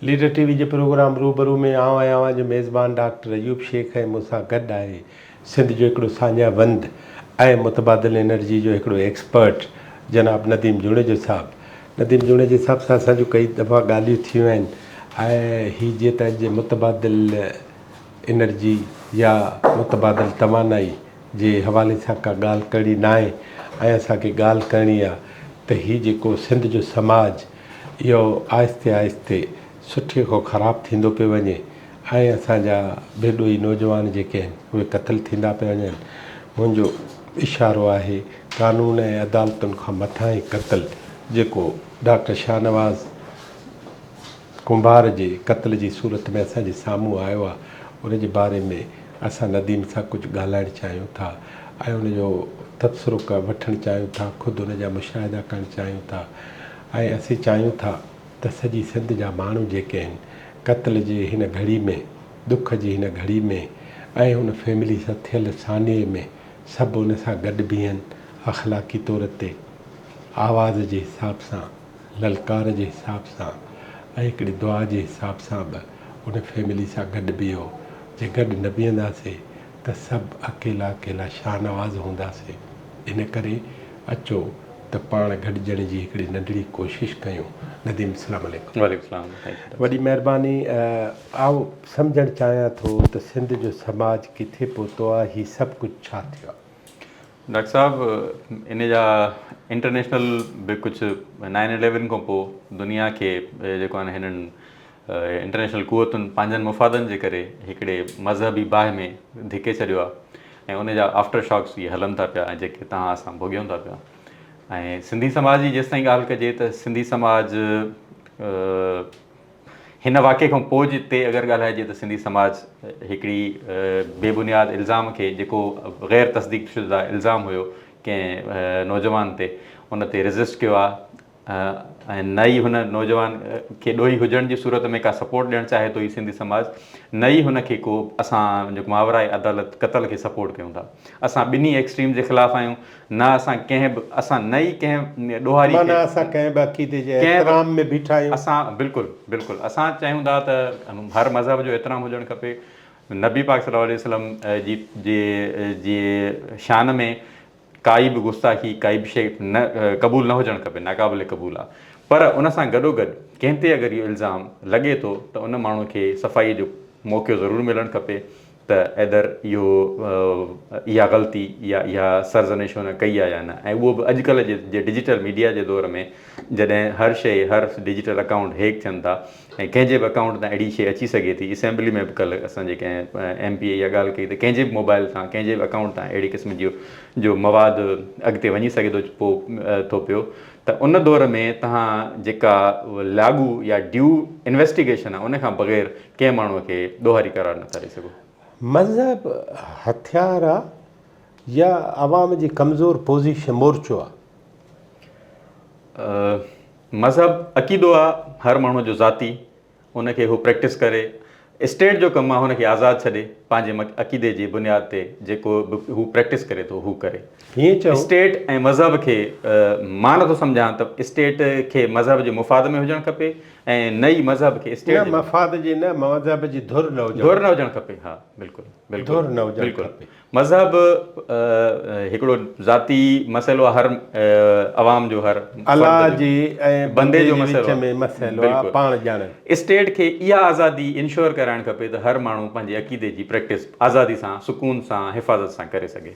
Leader TV وي جي programme روبرو ۾ آئون ۽ اوهان جو ميزبان ڊاڪٽر ايوب شيخ ۽ مون سان گڏ آهي سنڌ جو هڪڙو ساڃاهه وند ۽ متبادل انرجي جو هڪڙو ايڪسپرٽ جناب نديم جوڻيجو صاحب. نديم جوڻيجي صاحب سان اسان جون ڪئي دفعا ڳالهيون ٿيون آهن ۽ هي جيئن ته اڄ متبادل انرجي يا متبادل توانائي جي حوالي سان ڪا ڳالهه ڪرڻي نه آهي ۽ اسان کي ڳالهه ڪرڻي آهي ته هي جيڪو سنڌ جو سماج اهو آهستي آهستي سٺي کان خراب ٿيندو پيو وڃي ۽ اسان جا بي ڏوهي نوجوان جيڪي آهن اهي قتل ٿيندا پيا وڃن منهنجو اشارو آهي قانون ۽ عدالتن کان مٿاهين قتل جيڪو ڊاڪٽر شاهنواز ڪنڀار جي قتل جي صورت ۾ اسان جي سامهون آيو آهي، ان جي باري ۾ اسان نديم سان ڪجهه ڳالهائڻ چاهيون ٿا ۽ ان جو تبصرو وٺڻ چاهيون ٿا، خود ان جا مشاهدا ڪرڻ چاهيون ٿا ۽ اسين چاهيون ٿا ته سڄي سنڌ جا ماڻهو جيڪي آهن قتل جي هن گهڙي ۾، ڏک جي هن گهڙي ۾ ۽ ان فيملي سان ٿيل سانحي ۾ سڀ ان سان گڏ بيهن، اخلاقي طور تي آواز جي حساب سان. للڪار جي حساب سان ۽ هڪڙي دعا جي حساب سان به ان فيملي سان گڏ بيهو، جي گڏ نه بيهنداسين ته سڀ اڪيلا اڪيلا شاهنواز هونداسين، ان ڪري اچو ته پاڻ گڏجڻ جي هڪڙي ننڍڙي ڪوشش ڪيون. نديم السلام عليڪم. وعليڪم السلام سائين ڇوٽو. وڏي مهرباني آئون سمجهڻ چاهيان ٿو ته سنڌ جو سماج ڪٿي پهتو آهي هي سڀ ڪجهه ڇا ٿيو آهي ڊاڪٽر صاحب ان جا انٽرنيشنل به ڪجهه نائن اليون کان پوء دنيا کي جيڪو آهن هنن انٽرنيشنل قوتن پنهنجن مفادن جي ڪري هڪڙي مذهبي باهه ۾ ڌڪي ڇڏيو آهي ۽ ان جا آفٽر شاڪس اهي هلن ٿا پيا ۽ جيڪي تها اسان ڀوڳيون ٿا پيا ۽ سنڌي سماج جي جيستائين ڳالهه ڪجي ته سنڌي سماج هن واقعي کان پوء جي تي اگر ڳالهائجي ته سنڌي سماج هڪڙي بي بنياد الزام کي جيڪو غير تصديق شده الزام هيو ڪنهن نوجوان تي ان تي ريزسٽ ڪيو آ ۽ نه ئي هن نوجوان کي ڏوهي هجڻ جي صورت ۾ ڪا سپورٽ ڏيڻ چاهي ٿو هي سنڌي سماج نه ئي هن کي ڪو اسان جو ماورائي عدالت قتل کي سپورٽ ڪيون ٿا اسان ٻنهي ايڪسٽريم جي خلاف آهيون نه اسان ڪنهن به اسان نه ئي ڪنهن ڏوهاري کي. معنيٰ اسان ڪنهن به عقيدي جي احترام ۾ بيٺا آهيون. اسان بلڪل بلڪل اسان چاهيون ٿا ته هر مذهب جو احترام هجڻ کپي. نبي پاڪ صلي الله عليه وسلم جي جي شان ۾ ڪائي به گستاخي ڪائي به شيء نه قبول نه هجڻ کپي ناقابل قبول آهي پر ان سان گڏوگڏ ڪنهن تي اگر اهو الزام لڳي ٿو ته ان ماڻهو کي صفائي جو موقعو ضرور ملڻ کپي ته ايدر اهو اها غلطي يا اها سرزنش هن ڪئي آهي يا نه ۽ اهو به اڄڪلهه جي جي ڊجيٽل ميڊيا جي دور ۾ جڏهن هر شيء هر ڊجيٽل اڪائونٽ هيڪ ٿين ٿا ۽ ڪنهن جي به اڪائونٽ تان اهڙي شيء اچي سگهي ٿي اسيمبلي ۾ به ڪلهه اسان جي ڪنهن ايم پي اي اها ڳالهه ڪئي ته ڪنهن جي به موبائل تان ڪنهن جي به اڪائونٽ تان اهڙي قسم جي جو مواد اڳتي وڃي سگهي ٿو پو ٿو پيو ته ان دور ۾ تهان جيڪا لاڳو يا ڊيو انويسٽيگيشن آهي ان کان بغير ڪنهن ماڻهوء کي ڏوهاري قرار نه ٿا ڏئي سگهو. مذهب هٿيار آ يا عوام جي ڪمزور پوزيشن مورچو آ؟ مذهب عقيدو آ هر ماڻهو جو ذاتي ان کي هو پريڪٽس ڪري اسٽيٽ جو ڪم آ هن کي آزاد ڇڏي پنهنجي عقيدي جي بنياد تي جيڪو به هو پريڪٽس ڪري ٿو هو ڪري اسٽيٽ ۽ مذهب کي مان نٿو سمجهان ته اسٽيٽ کي مذهب جي مفاد ۾ هجڻ کپي ۽ نه ئي مذهب کي اسٽيٽ جي. نه مفاد جي نه مذهب جي ڌر نه هجڻ. ڌر نه هجڻ کپي ها بلڪل بلڪل. ڌر نه هجڻ کپي. مذهب هڪڙو ذاتي مسئلو هر عوام جو هر. الله جي ۽ بندي جي وچ ۾ مسئلو آ پاڻ ڄاڻن. اسٽيٽ کي اها آزادي انشور ڪرائڻ کپي ته هر ماڻهو پنهنجي عقيدي جي پريڪٽس آزادي سان سڪون سان حفاظت سان ڪري سگهي.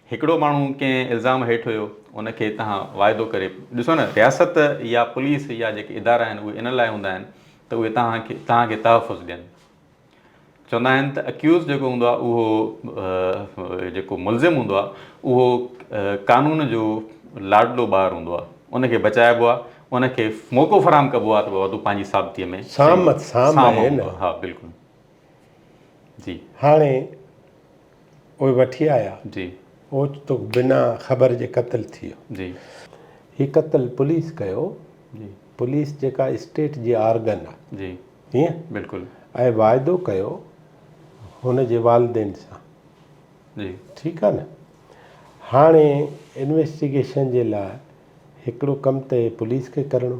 هڪڙو ماڻهو ڪنهن الزام هيٺ هيو ان کي تهان واعدو ڪري ڏسو نه رياست يا پوليس يا جيڪي ادارا آهن اهي ان لاء هوندا آهن ته اهي تهان کي تهان کي تحفظ ڏين چوندا آهن ته اڪيوز جيڪو هوندو آهي اهو جيڪو ملزم هوندو آهي اهو قانون جو لاڏلو ٻار هوندو آهي ان کي بچائبو آهي ان کي موقعو فراهم ڪبو آهي ته بابا تون پنهنجي ثابتي ۾ سام سام آهي نه ها بلڪل جي هاڻي اهي وٺي آيا. اوچتو بنا خبر جي قتل ٿيو. هي قتل پوليس ڪيو. پوليس جيڪا اسٽيٽ جي آرگن آ. هيئن؟ ۽ واعدو ڪيو هن جي والدين سان. ٺيڪ آ نه؟ هاڻي انويسٽيگيشن جي لاء هڪڙو ڪم ته پوليس کي ڪرڻو.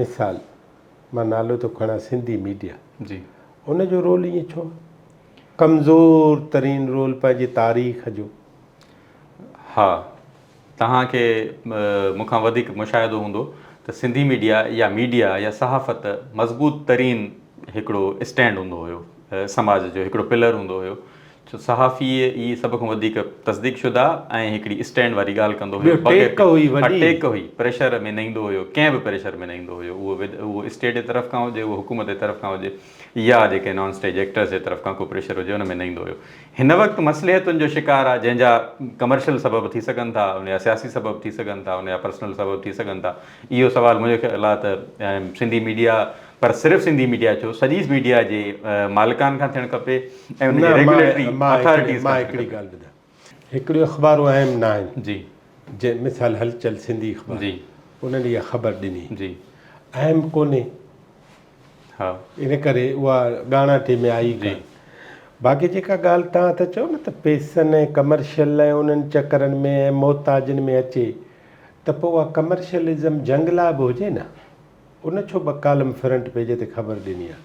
مثال، مان نالو ٿو کڻان سنڌي ميڊيا جي ان جو رول ائين ڇو ڪمزور ترين رول پنهنجي تاريخ جو. ها توهان کي مون کان وڌيڪ مشاهدو هوندو ته سنڌي ميڊيا يا ميڊيا يا صحافت مضبوط ترين هڪڙو اسٽينڊ هوندو هيو سماج جو هڪڙو پلر هوندو هيو ڇو صحافي ئي سڀ کان وڌيڪ تصديق شده ۽ هڪڙي اسٽينڊ واري ڳالهه ڪندو هيو بغير ٽيڪ هئي وڏي ها ٽيڪ هئي پريشر ۾ نه ايندو هيو ڪنهن به پريشر ۾ نه ايندو هيو اهو اهو اسٽيٽ جي طرف کان هجي اهو حڪومت جي طرف کان هجي يا جيڪي نان اسٽيج ايڪٽرس جي طرف کان ڪو پريشر هجي ان ۾ نه ايندو هيو هن وقت مصلحتن جو شڪار آهي جنهن جا ڪمرشل سبب ٿي سگهن ٿا ان جا سياسي سبب ٿي سگهن ٿا ان جا پرسنل سبب ٿي سگهن ٿا اهو سوال منهنجو خيال آهي ته سنڌي ميڊيا پر صرف سنڌي ميڊيا ڇو سڄي ميڊيا جي مالڪان کان ٿيڻ کپي ۽ ان جي ريگوليٽري اٿارٽيز کان ٿيڻ کپي. هڪڙيون اخبارون اهم نه آهن جي مثال هلچل سنڌي اخبار انهن اها خبر ڏني اهم ڪونهي ان ڪري اها ڳاڻاٽي ۾ آئي ڪانه باقي جيڪا ڳالهه توهان ٿا چئو نه ته پيسن ۽ ڪمرشل ۽ انهن چڪرن ۾ ۽ محتاجن ۾ اچي ته پوء اها ڪمرشلزم جنگ لاء به هجي نه ان ڇو ٻه ڪالم فرنٽ پيج تي خبر ڏني آ.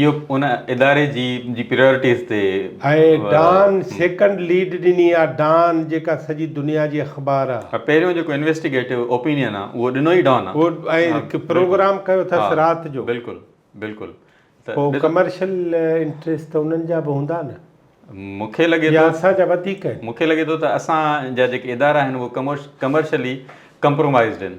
اهو ان اداري جي جي پريارٽيز تي ۽ ڊان سيڪنڊ ليڊ ڏني آ ڊان جيڪا سڄي دنيا جي اخبار آ. پهريون جيڪو انويسٽيگيٽو اوپينين آ اهو ڏنو ئي ڊان آ. اهو ۽ پروگرام ڪيو اٿس رات جو. بلڪل بلڪل ته پو ڪمرشل انٽريس ته انهن جا به هوندا نه. مون کي لڳي ٿو يا اسان جا وڌيڪ آهن. مون کي لڳي ٿو ته اسان جا جيڪي ادارا آهن اهي ڪمرشلي ڪمپرومائزڊ آهن.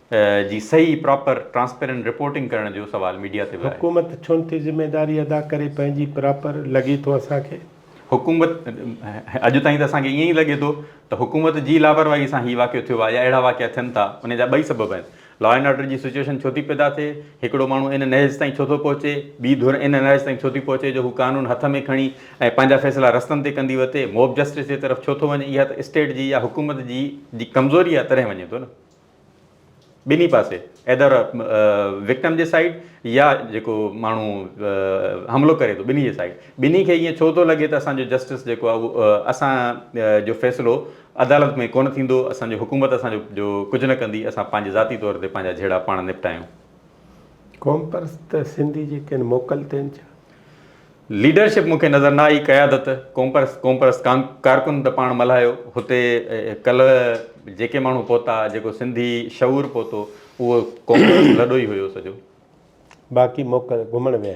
جي صحيح پراپر ٽرانسپيرنٽ رپورٽنگ ڪرڻ جو سوال ميڊيا تي به آهي. حڪومت ڇو نٿي ذميداري ادا ڪري پنهنجي پراپر لڳي ٿو اسان کي. حڪومت اڄ تائين ته اسان کي ائين ئي لڳي ٿو ته حڪومت جي لاپرواهي سان هي واقعو ٿيو آهي يا اهڙا واقعا ٿين ٿا ان جا ٻئي سبب آهن لا اينڊ آرڊر جي سچوئيشن ڇو ٿي پيدا ٿئي هڪڙو ماڻهو ان نهج تائين ڇو ٿو پهچي ٻي ڌر ان نهج تائين ڇو ٿي پهچي جو هو قانون هٿ ۾ کڻي ۽ پنهنجا فيصلا رستن تي ڪندي وتي موب جسٽس جي طرف ڇو ٿو وڃي اها ته اسٽيٽ جي يا حڪومت جي جي ڪمزوري آهي تڏهن وڃي ٿو نه ٻنهي پاسي ايڌر وڪٽم جي سائيڊ يا جيڪو ماڻهو حملو ڪري ٿو ٻنهي جي سائيڊ ٻنهي کي ائين ڇو ٿو لڳي ته اسانجو جسٽس جيڪو آهي اهو اسان جو فيصلو عدالت ۾ ڪونه ٿيندو اسانجو حڪومت اسانجو جو ڪجهه نه ڪندي اسان پنهنجي ذاتي طور تي پنهنجا جهيڙا پاڻ نپٽايون. قومپرست سنڌي جي ڪن موڪل تي ڇا؟ ليڊرشپ مون کي نظر نه آئي، قيادت، قومپرست قومپرست ڪارڪن ته پاڻ ملهايو، هتي ڪلهه جيڪي ماڻهو پهتا، جيڪو سنڌي شعور پهتو، اهو قومپرست لڏو ئي هيو سڄو. باقي موڪل گهمڻ ويا.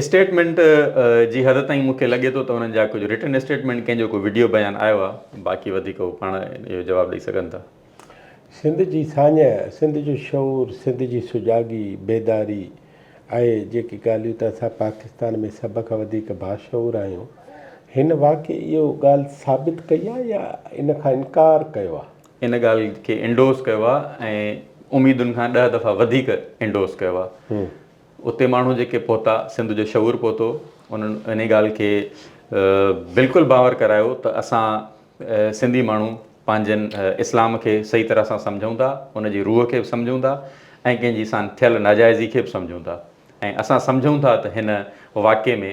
اسٽيٽمينٽ جي حد تائين مون کي لڳي ٿو ته انهن جا ڪجهه رٽن اسٽيٽمينٽ ڪنهن جو ڪو وڊيو بيان آيو آهي باقي وڌيڪ هو پاڻ اهو جواب ڏئي سگهن ٿا. سنڌ جي ساڃهه، سنڌ جو شعور، سنڌ جي سجاڳي، بيداري ۽ جيڪي ڳالهيون ته اسان پاڪستان ۾ سڀ کان وڌيڪ باشعور آهيون، هن واقعي اهو ڳالهه ثابت ڪئي آهي يا ان کان انڪار ڪيو آهي؟ ان ڳالهه کي انڊورس ڪيو آهي ۽ اميدن کان ڏهه دفعا وڌيڪ انڊورس ڪيو آهي. اتي ماڻهو جيڪي پهتا، سنڌ جو شعور پهتو، انهن انهي ڳالهه کي بلڪل باور ڪرايو ته اسان سنڌي ماڻهو پنهنجن اسلام کي صحيح طرح سان سمجهون ٿا، ان جي روح کي به سمجهون ٿا ۽ ڪنهن جي سان ٿيل ناجائزي کي به سمجهون ٿا ۽ اسان سمجهون ٿا ته هن واقعي ۾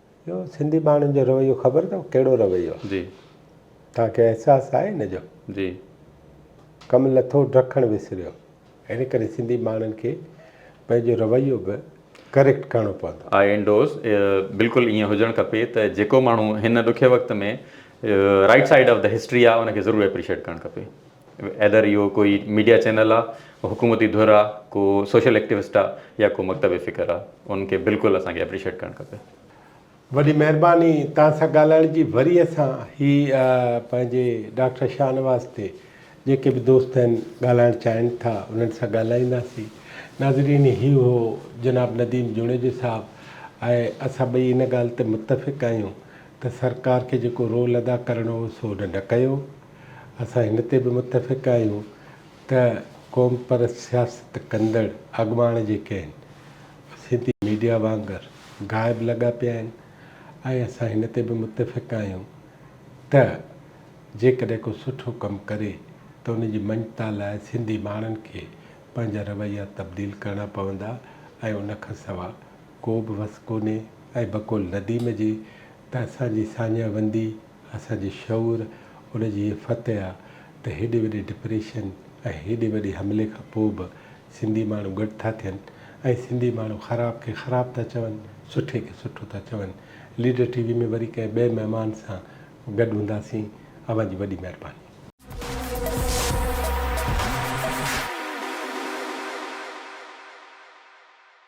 اهو سنڌي ماڻهن جو رويو خبر اٿو ڪهڙو رويو آهي؟ جي. توهان کي احساس آهي ان جو؟ جي. ڪم لٿو ڊکڻ وسريو. ان ڪري سنڌي ماڻهن کي پنهنجو رويو به ڪريڪٽ ڪرڻو پوندو. آء انڊورس بلڪل ائين هجڻ کپي ته جيڪو ماڻهو هن ڏکي وقت ۾ right side of the history آهي ان کي ضرور اپريشيٽ ڪرڻ کپي. ايڌر اهو ڪوئي ميڊيا چينل آ، حڪومتي ڌر آ، ڪو سوشل ايڪٽيوسٽ آ يا ڪو مڪتب فڪر آ، ان کي بلڪل اسان کي اپريشيٽ ڪرڻ کپي. وڏي مهرباني توهان سان ڳالهائڻ جي وري اسان هي پنهنجي ڊاڪٽر شاهنواز تي جيڪي به دوست آهن ڳالهائڻ چاهين ٿا انهن سان ڳالهائينداسين ناظرين هي هو جناب نديم جوڻيجو صاحب ۽ اسان ٻئي ان ڳالهه تي متفق آهيون ته سرڪار کي جيڪو رول ادا ڪرڻو هو سو هن نه ڪيو اسان هن تي به متفق آهيون ته قومپرست سياست ڪندڙ اڳواڻ جيڪي آهن، سنڌي ميڊيا وانگر غائب لڳا پيا آهن ۽ اسان هن تي به متفق آهيون ته جيڪڏهن ڪو سٺو ڪم ڪري ته ان جي مڃتا لاء سنڌي ماڻهن کي پنهنجا رويا تبديل ڪرڻا پوندا ۽ ان کان سوا ڪو به وس ڪونهي ۽ بقول نديم جي ته اسان جي ساڃاهه وندي اسان جي شعور ان جي هيء فتح آ ته هيڏي وڏي ڊپريشن ۽ هيڏي وڏي حملي کان پوء به سنڌي ماڻهو گڏ ٿا ٿين ۽ سنڌي ماڻهو خراب کي خراب ٿا چون، سٺي کي سٺو ٿا چون. ليڊر ٽي وي ۾ وري ڪنهن ٻئي مهمان سان گڏ هونداسين. اوهان جي وڏي مهرباني.